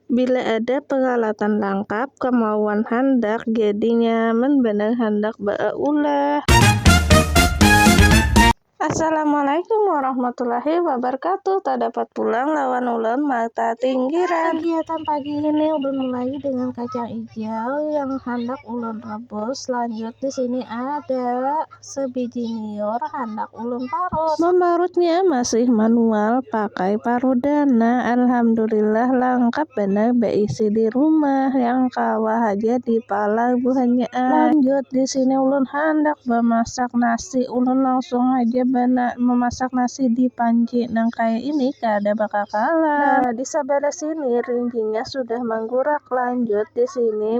Bila ada peralatan langkap, kemauan handak jadi nyaman banar handak ba'aulah. Assalamualaikum warahmatullahi wabarakatuh. Tadapat pulang lawan ulun mata tinggiran. Kegiatan pagi ini ulun mulai dengan kacang ijau yang handak ulun rebus. Lanjut di sini ada Sebiji nyiur handak ulun parut. Mamparutnya masih manual pakai paroda nah alhamdulillah langkap banar baisi di rumah yang kawa haja di palar buhannya ai. Lanjut di sini ulun handak bamasak nasi ulun langsung haja mamasak nasi di panci nang kaya ini kada bakakalan. Nah di sabalah sini rinjingnya sudah manggurak lanjut di sini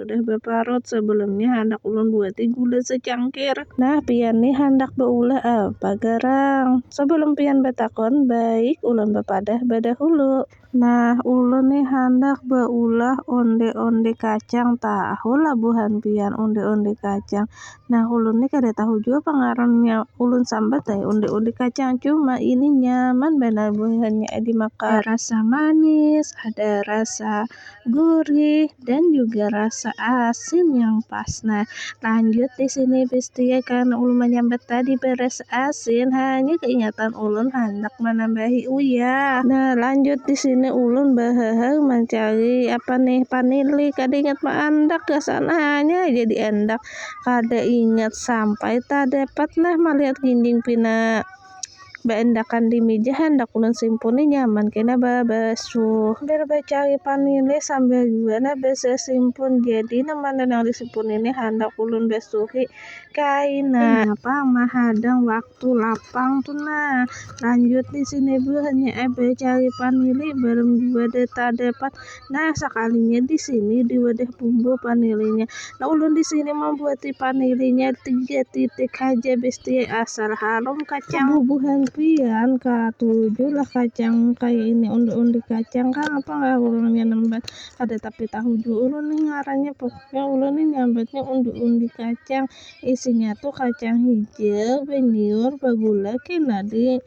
Sudah baparut sebelum ni handak ulun buati gula secangkir. Nah, pian ni handak baulah apa garang? Sebelum pian batakun, baik ulun bapadah badahulu. Nah, ulun ni handak baulah onde-onde kacang. Tahulah buhan pian onde-onde kacang? Nah, ulun ni kada tahu jua pang ngarannya. Ulun sambat ai onde-onde kacang, cuma ini nyaman banar buhannya ai dimakan. Ada rasa manis, ada rasa. gurih dan juga rasa asin yang pas. Nah, lanjut di sini pasti ya karena ulun menyambat tadi beres asin, hanya keingatan ulun hendak menambahi uyah. Nah, lanjut di sini ulun behehe mencari apa nih panili, kada ingat meendak gasan hanya aja diendak, kada ingat sampai tak dapat nah melihat ginjing pina. Baandakan di mija handak ulun simpuni nyaman kena babasuh. Sambil bacari panilis sambil jua nah basasimpun jadi nah mana nang disimpuni ni handak ulun basuhi kaina. Kaya pang mahadang waktu lapang tu nah. Lanjut di sini buhannya ai bacari panili balum jua deh tadapat. Nah, sakalinya di sini di wadah bumbu panilinya. Nah, ulun di sini membuati panilinya tiga titik aja besti asal harum kacang. Bubuhan pian katuju lah kacang kayak ini undi-undi kacang kan apa nggak ulunnya nembat ada tapi tahu juga ulun nih ngarannya pokoknya ulun nih nyambatnya undi-undi kacang isinya tuh kacang hijau beniur bagula kena di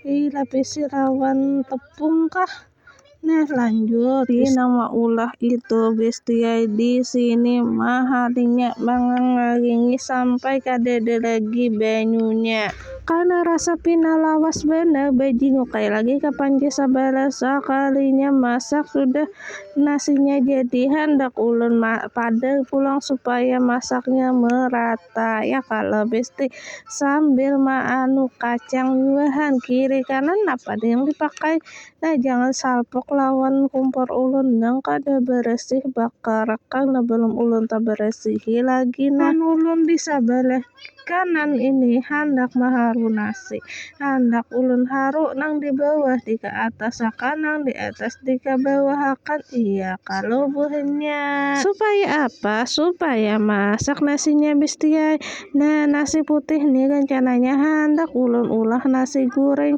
dilapisi rawan tepung kah Nah lanjut di nama ulah itu bestia di sini maharinya mangangaringi sampai kadada lagi banyunya. Karena rasa pina lawas banar bajingukai lagi ka panci sabalah sakalinya masak sudah nasinya jadi handak ulun padar pulang supaya masaknya merata ya kalo besti sambil maanu kacang buahan kiri kanan napa yang dipakai Nah jangan salpok lawan kumpor ulun nang kada beresih bakarakang nah belum ulun taberesihi lagi nah. Pan ulun di sabelah kanan ini handak maharu nasi. Handak ulun haru nang di bawah di ke atas akan nang di atas di ke bawah akan iya kalau buhannya. Supaya apa? Supaya masak nasinya bestiai. Nah nasi putih ni rencananya handak ulun ulah nasi goreng.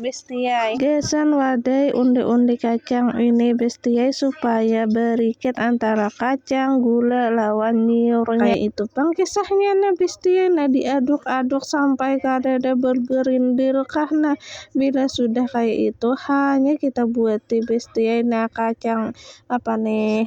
bestiai. Gasan wadai undi-undi kacang ini bestiai supaya barikat antara kacang, gula, lawan nyiurnya. Kaya itu pang kisahnya nah bestiai nah diaduk-aduk sampai kadada bergerindil kah nah bila sudah kaya itu hanya kita buati bestiai nah kacang apa nih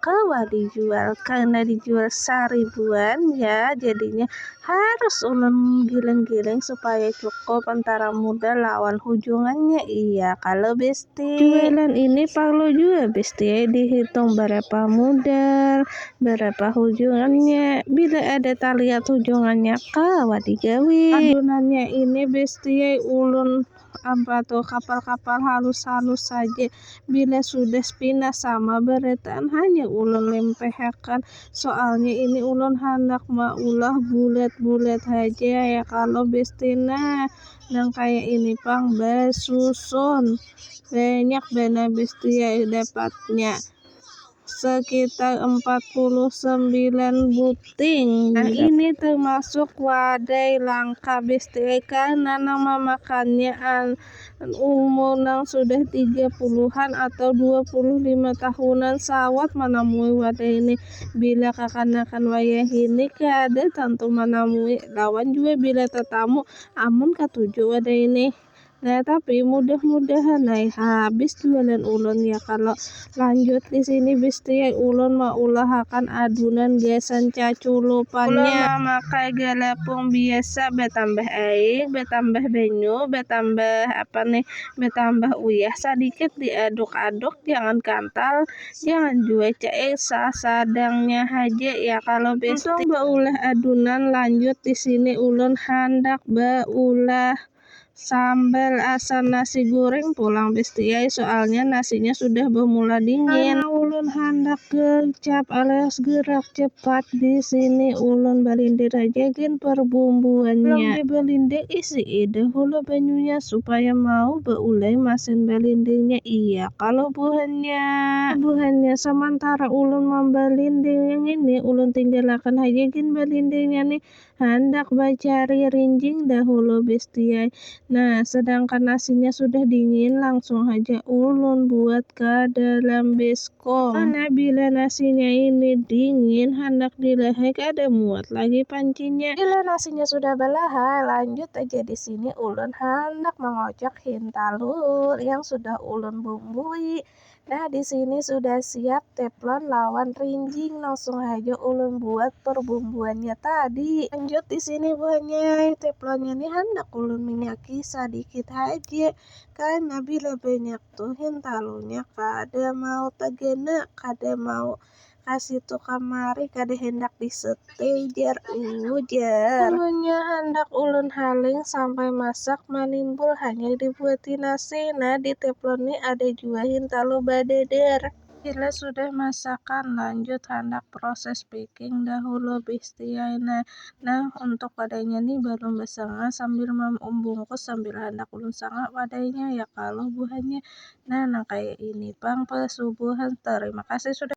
kawa dijual karena dijual saribuan ya jadinya harus ulun giling-giling supaya cukup antara muda lawan hujungannya iya kalau besti jualan ini perlu juga besti dihitung berapa modal berapa hujungannya bila ada terlihat hujungannya kawa digawi adunannya ini besti ulun Apa tuh kapal-kapal halus-halus saja bila sudah spinas sama beretaan hanya ulun lempehakan soalnya ini ulun handak maulah bulat-bulat haja ya kalau bestina nang kaya ini pang basusun banyak banar bestia dapatnya sekitar 49 buting. Nah, ini termasuk wadai langka bistri karena nang mamakannya umur nang sudah 30-an atau 25 tahunan sawat manamui wadai ini. Bila kakanakan wayahini kada tantu manamui lawan jua bila tatamu amun katuju wadai ini. Nah tapi mudah-mudahan ai habis temenan ulun ya kalau lanjut di sini bisti ai ulun maulahakan adunan gasan caculupannya. Ulun mamakai galepung biasa batambah air, batambah banyu, batambah apa nih, batambah uyah sadikit diaduk-aduk jangan kantal, jangan jua cair sasadangnya haja ya kalau bisti. Untung baulah adunan lanjut di sini ulun handak baulah. Sambal asam nasi goreng pulang besti ai soalnya nasinya sudah bermula dingin. Karena ulun handak gercap alias gerak cepat di sini ulun balindir aja gen perbumbuannya. Belum dibelindir isi dahulu banyunya supaya mau beulai masin balindirnya iya kalo buhannya. Buhannya samantara ulun mambalindirnya ngini ulun tinggalakan haja gen balindirnya nih Handak bacari rinjing dahulu bestiai. Nah, sedangkan nasinya sudah dingin, langsung haja ulun buat ka dalam beskom. Karena bila nasinya ini dingin, handak dilahai kada muat lagi pancinya. Bila nasinya sudah balahai, lanjut haja di sini ulun handak mangocok hintalu yang sudah ulun bumbui. Nah, di sini sudah siap teflon lawan rinjing. Langsung aja ulun buat perbumbuannya tadi. Lanjut di sini buahnya teflonnya nih hendak ulun minyaki sedikit aja. Karena bila banyak tuh hintalunya kada mau tegena, kada mau kasitu kamari kada handak di stay jar ujar. Amunnya handak ulun haling sampai masak manimbul hanyar dibuati nasi nah di teflon ni ada jua hintalu badadar. Bila sudah masakan lanjut handak proses packing dahulu bstiai nah, nah untuk wadainya ni balum basanga sambil mambungkus sambil handak ulun sanga wadainya ya kalo buhannya Nah, nang kaya ini pang pesubuhan. Tarima kasih sudah.